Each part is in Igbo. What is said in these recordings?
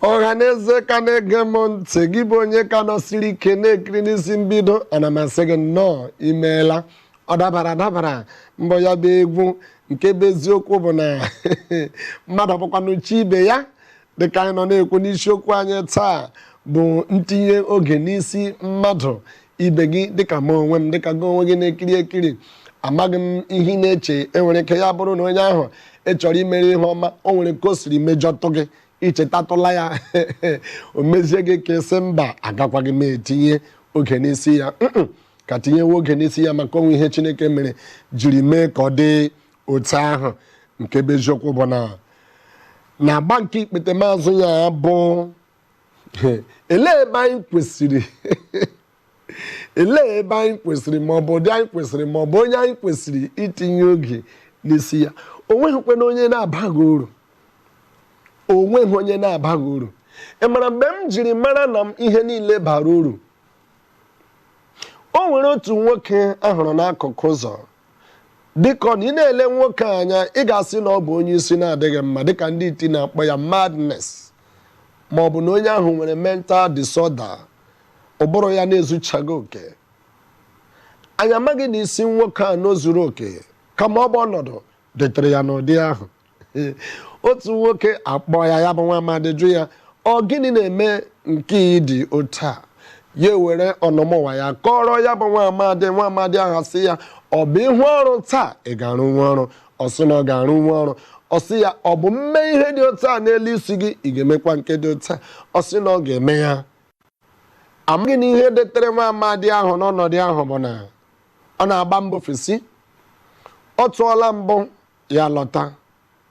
ọhaneze ka na-ege m ntị gị bụ onye ka nọsiri ike na-ekiri n'isi mbido ana m asị gị nnọọ imeela ọ dabara adabara mbọ ya bụ egwu nke bụ eziokwu bụ na mmadụ bụkwanụ chi ibe ya dịka anyị nọ na-ekwu n'isiokwu anyị taa bụ ntinye oge n'isi mmadụ ibe gị dịka m onwe m dịka gị onwe gị na-ekiri ekiri amaghị m ihe ị na-eche enwere ike ya bụrụ na onye ahụ ị chọrọ imere ihe ọma o nwere ka o siri mejọtụ gị i chetatụla ya o mezie gị ka ị sị mba agakwaghị m etinye oge n'isi ya Mm-mm, ka tinyewe oge n'isi ya maka o nwe ihe chineke mere jiri mee ka ọ dị otu ahụ nke bụ eziokwu bụ na n'agba nke ikpetemazụ ya bụ elee ebe anyị kwesịrị elee ebe anyị kwesịrị ma ọ bụ ụdị anyị kwesịrị ma ọ bụ onye anyị kwesịrị itinye oge n'isi ya o nweghịkwanụ onye na-abaghị uru o nweghị onye na-abaghị uru ị mara mgbe m jiri mara na m ihe niile bara uru o nwere otu nwoke a hụrụ n'akụkụ ụzọ dịka ọ nọ ị na-ele nwoke a anya ị ga-asị na ọ bụ onye isi na-adịghị mma dịka ndị iti na-akpọ ya madness ma ọ bụ na onye ahụ nwere mental disorder ụbụrụ ya na-ezuchaghị oke anyị amaghị na isi nwoke a na o zuru oke kama ọ bụ ọnọdụ detere ya n'ụdị ahụ otu nwoke akpọ ya ya bụ nwa amadị jụ ya ọ gịnị na-eme nke ị dị otu a ya ewere ọnọmụwa ya kọrọ ya bụ nwa amadị nwa amadị ahụ sị ya ọ bụ ị hụ ọrụ taa ị ga-arụnwu ọrụ ọ sị na ọ ga-arụnwu ọrụ ọ sị ya ọ bụ m mee ihe dị otu a n'elu isi gị ị ga-emekwa nke dị otu a ọ sị na ọ ga-eme ya amaghị na ihe detere nwa amadị ahụ n'ọnọdụ ahụ bụ na ọ na-agba mbọ ofesi ọ tụọla mbụ ya lọta,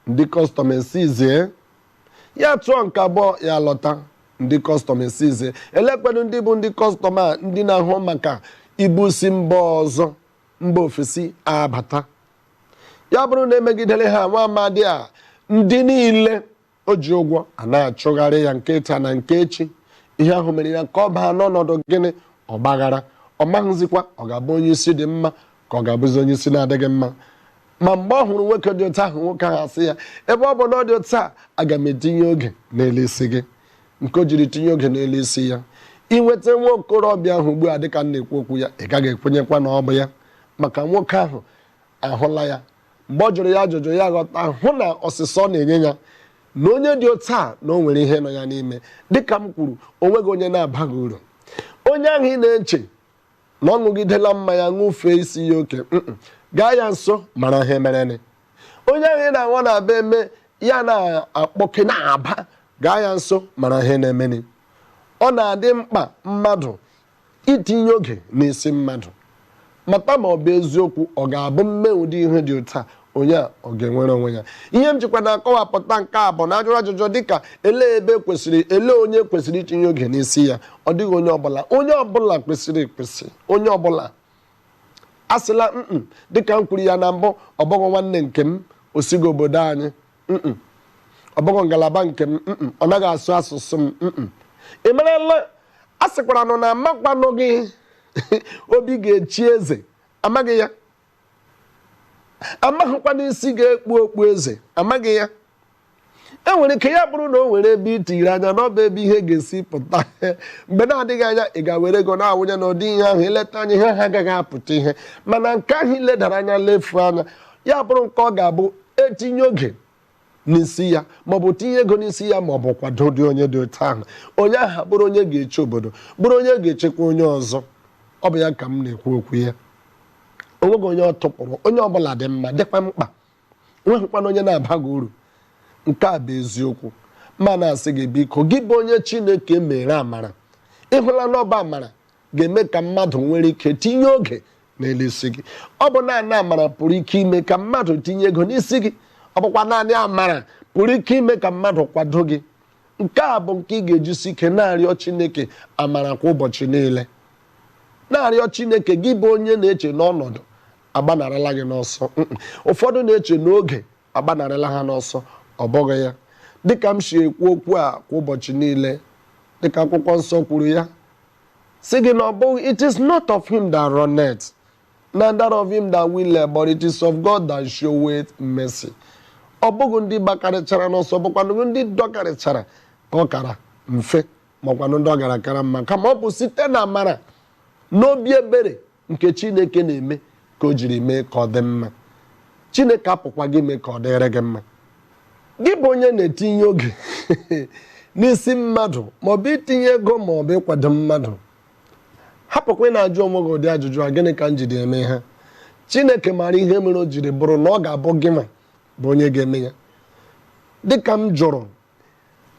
ndị custom e-seize. Ya tụọ nke abụọ, ya lọta, ndị custom e-seize. Elekwadụ ndị bụ ndị custom a ndị na-ahụ maka ibu si mba ọzọ mba ofesi abata? Ya bụrụ na e megidere ha nwa amadi a, ndị niile O ji ụgwọ ana-achụgharị ya nke taa na nke echi. Ihe ahụ mere ya ka ọ baa n'ọnọdụ gịnị? Ọgbaghara. Ọ maghịzikwa ọ ga-abụ onye isi dị mma ka ọ ga-abụzi onye isi na-adịghị mma. Ma mgbe ọ hụrụ nwoke dị otu ahụ, nwoke ahụ asị ya, Ebe ọ bụ na ọ dị otu a, aga m etinye oge n'elu isi gị. Nke o jiri tinye oge n'elu isi ya. I nweta nwa okorobịa ahụ ugbu a dịka m na-ekwu okwu ya, ị gaghị ekwenyekwa na ọ bụ ya, maka nwoke ahụ ahụla ya Mgbe ọ jụrụ ya ajụjụ, ya ghọta, hụ na ọsịsa ọ na-enye ya na onye dị otu a na o nwere ihe nọ ya n'ime. Dị ka m kwuru, o nweghị onye na-abaghị uru. Onye ahụ ị na-eche na ọ ṅụgidela mmanya ṅụfee isi ya oke, mm, gaa ya nso mara ihe mereni. Onye ahụ ị na-ahụ na-aba eme ya na-akpọke na-aba, gaa ya nso mara ihe na-emeni. Ọ na-adị mkpa mmadụ Itinye oge n'isi mmadụ. Mata ma ọ bụ eziokwu ọ ga-abụ m mee ụdị ihe dị otu a, onye a ọ ga-enwere onwe ya. Ihe m jikwa na-akọwapụta nke a bụ na a jụrụ ajụjụ dịka elee ebe kwesịrị, elee onye kwesịrị itinye oge n'isi ya, ọ dịghị onye ọbụla. Onye ọbụla kwesịrị ekwesị, onye ọbụla. Asịla mm dịka m kwuru ya na mbụ, ọ bụghị nwanne nke m, o sighị obodo anyị, mm ọ bụghị ngalaba nke m mm ọ naghị asụ asụsụ m mm ị marala a sịkwaranụ na amakwanụghị obi ga-echi eze amaghị ya amaghịkwana isi ga-ekpu okpu eze amaghị ya e nwere ike ya bụrụ na o nwere ebe i tiri anya na ọ bụ ebe ihe ga-esi pụta mgbe na-adịghị anya ị ga-ewere ego na-awụnye na ụdị ihe ahụ i leta anya ihe ahụ agaghị apụta ihe mana nke ahụ i ledara anya lefu anya ya bụrụ nke ọ ga-abụ e tinye oge n'isi ya maọbụ tinye ego n'isi ya maọbụ kwado ụdị onye dị otu ahụ onye aha bụrụ onye ga-eche obodo bụrụ onye ga-echekwa onye ọzọ ọ bụ ya ka m na-ekwu okwu ya onweghị onye ọ tụpụrụ onye ọbụla dị mma dịkwa mkpa o nweghịkwana onye na-abaghị uru nke a bụ eziokwu ma na-asị gị biko gị bụ onye chineke mere amara ị hụla na ọ bụ amara ga-eme ka mmadụ nwere ike tinye oge n'elu isi gị ọ bụ naanị amara pụrụ ike ime ka mmadụ tinye ego n'isi gị ọ bụkwa naanị amara pụrụ ike ime ka mmadụ kwado gị nke a bụ nke ị ga-ejisi ike na-arịọ Chineke amara kwa ụbọchị niile na-arịọ Chineke gị bụ onye na-eche na ọnọdụ agbanarala gị n'ọsọ ụfọdụ na-eche na oge agbanarịla ha n'ọsọ, ọ bụghị ya? Dị ka m si ekwu okwu a kwa ụbọchị niile, dị ka Akwụkwọ Nsọ kwuru ya, sị gị na ọ bụghị It is not of him that runneth, neither of him that willeth, but it is of God that showeth mercy. Ọ bụghị ndị gbakarịchara n'ọsọ, bụkwanụ ndị dọkarịchara ka ọ kara mfe, makwanụ ndị ọ gara kara mma, kama ọ bụ site na amara na obi ebere nke Chineke na-eme ka o jiri mee ka ọ dị mma Chineke apụkwa gị mee ka ọ dịrị gị mma gị bụ onye na-etinye oge n'isi mmadụ maọbụ itinye ego maọbụ ịkwado mmadụ hapụkwa ị na-ajụ onwe gị ụdị ajụjụ a gịnị ka m jiri eme ha chineke maara ihe mere o jiri bụrụ na ọ ga-abụ gị nwa bụ onye ga-eme ya dịka m jụrụ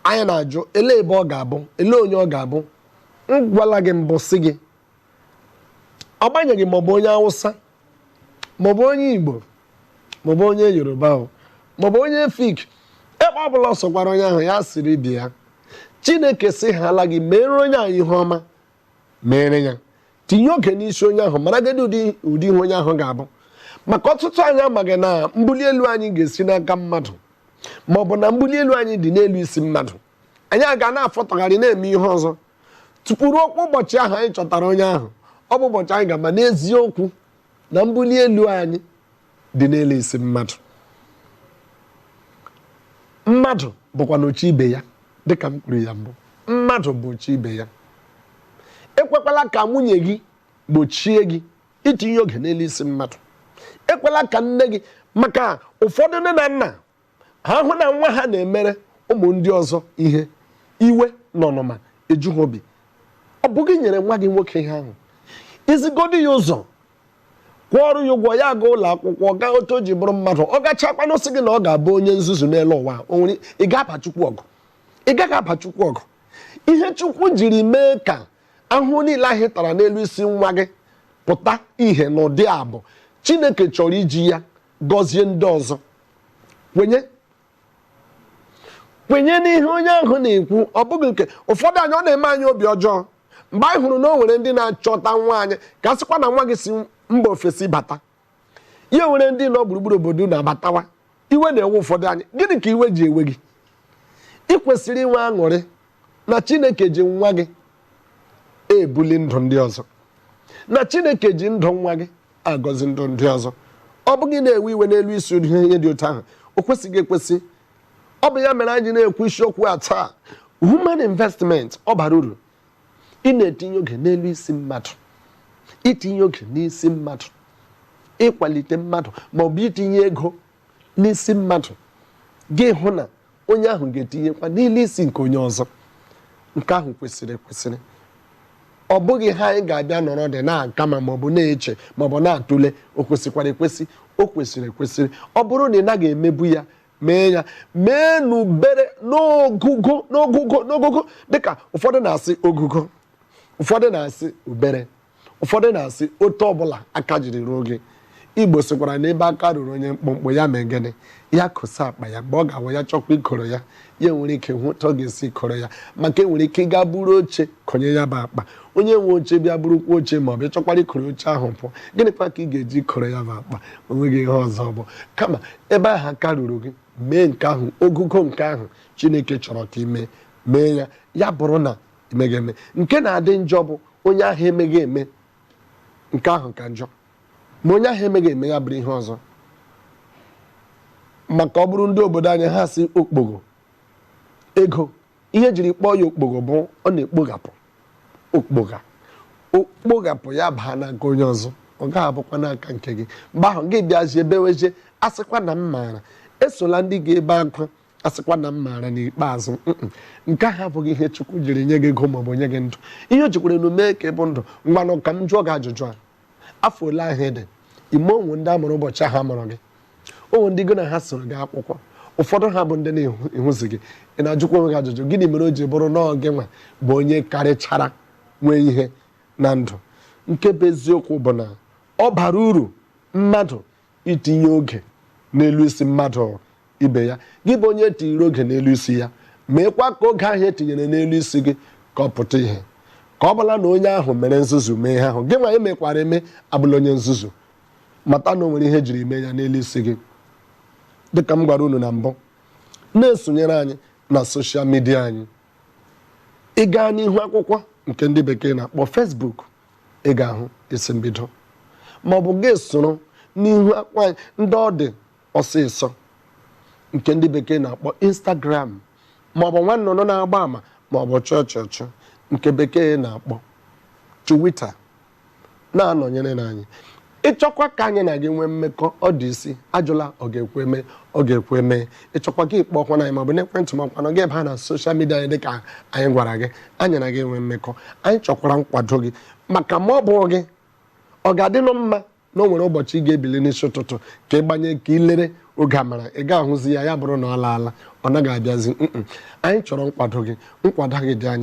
anyị na-ajụ elee ebe ọ ga-abụ elee onye ọ ga-abụ m gwala gị mbụ sị gị agbanyeghị maọbụ onye awụsa maọbụ onye igbo maọbụ onye yoruba maọbụ onye efik ebe ọ bụla ọ sọkwara onye ahụ ya siri bịa chineke sịhaala gị mere onye ahụ ihe ọma mere ya tinye oge n'isi onye ahụ maraghịdị ụdị ihe onye ahụ ga-abụ maka ọtụtụ anyị amaghị na mbuli elu anyị ga-esi n'aka mmadụ maọbụ na mbuli elu anyị dị n'elu isi mmadụ anyị aga na-afọtagharị na-eme ihe ọzọ tupu ruokwa ụbọchị ahụ anyị chọtara onye ahụ ọ bụ ụbọchị anyị ga-ama n'eziokwu na mbuli elu anyị dị n'elu isi mmadụ mmadụ bụkwanụ chi ibe ya dịka m kwuru ya mbụ mmadụ bụ chi ibe ya ekwekwala ka nwunye gị gbochie gị itinye oge n'elu isi mmadụ ekwela ka nne gị maka ụfọdụ nne na nna ha hụ na nwa ha na-emere ụmụ ndị ọzọ ihe iwe na ọnụma eju ha obi ọ bụ gị nyere nwa gị nwoke ihe ahụ i zigodi ya ụzọ kwụọrụ ya ụgwọ ya aga ụlọ akwụkwọ gaa otu o ji bụrụ mmadụ ọ gachakwanụ sị gị na ọ ga-abụ onye nzuzu n'elu ụwa ị ga-aba chukwu ọgụ ị gaghị aba chukwu ọgụ ihe chukwu jiri mee ka ahụhụ niile ahụ ị tara n'elu isi nwa gị pụta ihe n'ụdị a bụ chineke chọrọ iji ya gọzie ndị ọzọ kwenye kwenye n'ihe onye ahụ na-ekwu ọ bụghị nke ụfọdụ anyị ọ na-eme anyị obi ọjọọ mgbe anyị hụrụ na o nwere ndị na-achọta nwa anyị ka a sịkwa na nwa gị si mba ofesi bata e nwere ndị nọ gburugburu obodo na-abatawa iwe na-ewe ụfọdụ anyị gịnị ka iwe ji ewe gị ị kwesịrị inwe aṅụrị na Chineke ji nwa gị ebuli ndụ ndị ọzọ na Chineke ji ndụ nwa gị agọzi ndụ ndị ọzọ ọ bụghị ị na-ewe iwe n'elu isi ihe dị otu ahụ o kwesịghị ekwesị ọ bụ ya mere anyị ji na-ekwu isiokwu a taa human investment ọ bara uru ị na-etinye oge n'elu isi mmadụ itinye oge n'isi mmadụ ịkwalite mmadụ ma ọ bụ itinye ego n'isi mmadụ gị hụ na onye ahụ ga-etinyekwa n'elu isi nke onye ọzọ nke ahụ kwesịrị ekwesịrị ọ bụghị ihe anyị ga-abịa nọrọdị na-aka ma maọbụ na-eche maọbụ na-atụle o kwesịkwara ekwesị o kwesịrị ekwesịrị ọ bụrụ na ị naghị emebu ya mee ya mee n'ubere n'ogugo dịka ụfọdụ na-asị ogugo ụfọdụ na-asị ubere Ụfọdụ na-asị, otu ọbụla aka jiri ruo gị. Igbo sịkwara na ebe aka ruru onye mkpụmkpụ, ya mee gịnị? Ya kosa akpa ya. Mgbe ọ ga-awụ ya chọkwa ikoro ya, ya enwere ike hụ otu ọ ga-esi koro ya. Maka e nwere ike ịga buru oche konye ya bụ akpa. Onye nwe oche bịa burukwa oche maọbụ ị chọkwara ikoro oche ahụ pụọ, gịnịkwa ka ị ga-eji koro ya bụ akpa? O nweghị ihe ọzọ ọ bụ. Kama, ebe ahụ aka ruru gị, mee nke ahụ, ogugo nke ahụ Chineke chọrọ ka i mee, mee ya. Ya bụrụ na emeghị eme nke na-adị njọ bụ onye ahụ emeghị eme nke ahụ ka njọ ma onye ahụ emeghị eme ya bụrụ ihe ọzọ maka ọ bụrụ ndị obodo anyị ha sị okpogho ego ihe e jiri kpọọ ya okpogho bụ ọ na-ekpoghapụ okpogha o kpoghapụ ya baa n'aka onye ọzọ ọ gaghị abụkwa n'aka nke gị mgbe ahụ gị bịazie bewezie a sịkwa na m maara esola ndị ga-ebe akwa a sịkwa na m maara n'ikpeazụ mm, nke ahụ abụghị ihe Chukwu jiri nye gị ego maọbụ nye gị ndụ ihe o jikwaranụ mee ka ị bụ ndụ ngwanụ ka m jụọ gị ajụjụ a afọ ole ahụ ị dị ime o nwe ndị a mụrụ ụbọchị ahụ a mụrụ gị o nwe ndị gị na ha soro gaa akwụkwọ ụfọdụ ha bụ ndị na-ehuzi gị ị na-ajụkwa onwe gị ajụjụ gịnị mere o ji bụrụ na ọ gị nwa bụ onye karịchara nwee ihe na ndụ nke bụ eziokwu bụ na ọ bara uru mmadụ itinye oge n'elu isi mmadụ ibe ya gị bụ onye e tinyere oge n'elu isi ya meekwa ka oge ahụ e tinyere n'elu isi gị ka ọ pụta ihe ka ọ bụla na onye ahụ mere nzuzu mee ihe ahụ gị nwa emekwara eme abụla onye nzuzu mata na o nwere ihe e jiri mee ya n'elu isi gị dịka m gwara unu na mbụ na-esonyere anyị na soshal midia anyị ị gaa n'ihu akwụkwọ nke ndị bekee na-akpọ Facebook ị ga-ahụ isi mbido ma ọ bụ gị soro n'ihu akwa ndị ọ dị ọsịsọ nke ndị bekee na-akpọ Instagram ma ọ bụ nwa nnụnụ na-agba ama ma ọ bụ chọọchọchọ nke bekee na-akpọ Twitter na-anọnyerenụ anyị ị chọkwa ka anyị na gị nwee mmekọ ọ dị isi ajụla ọ ga-ekwe eme ọ ga-ekwe eme ị chọkwa gị kpọọkwanụ anyị maọbụ n'ekwentị ma ọkwanụ gị abịa na soshal midia anyị dịka anyị gwara gị anyị na gị enwee mmekọ anyị chọkwara nkwado gị maka ma ọ bụ gị ọ ga-adịnụ mma na o nwere ụbọchị ị ga-ebili n'isi ụtụtụ ka ị gbanye ka ị lere oge amara ị ga-ahụzi ya ya bụrụ na ọ laala ọ naghị abịazi mm anyị chọrọ nkwado gị nkwado gị dị anyị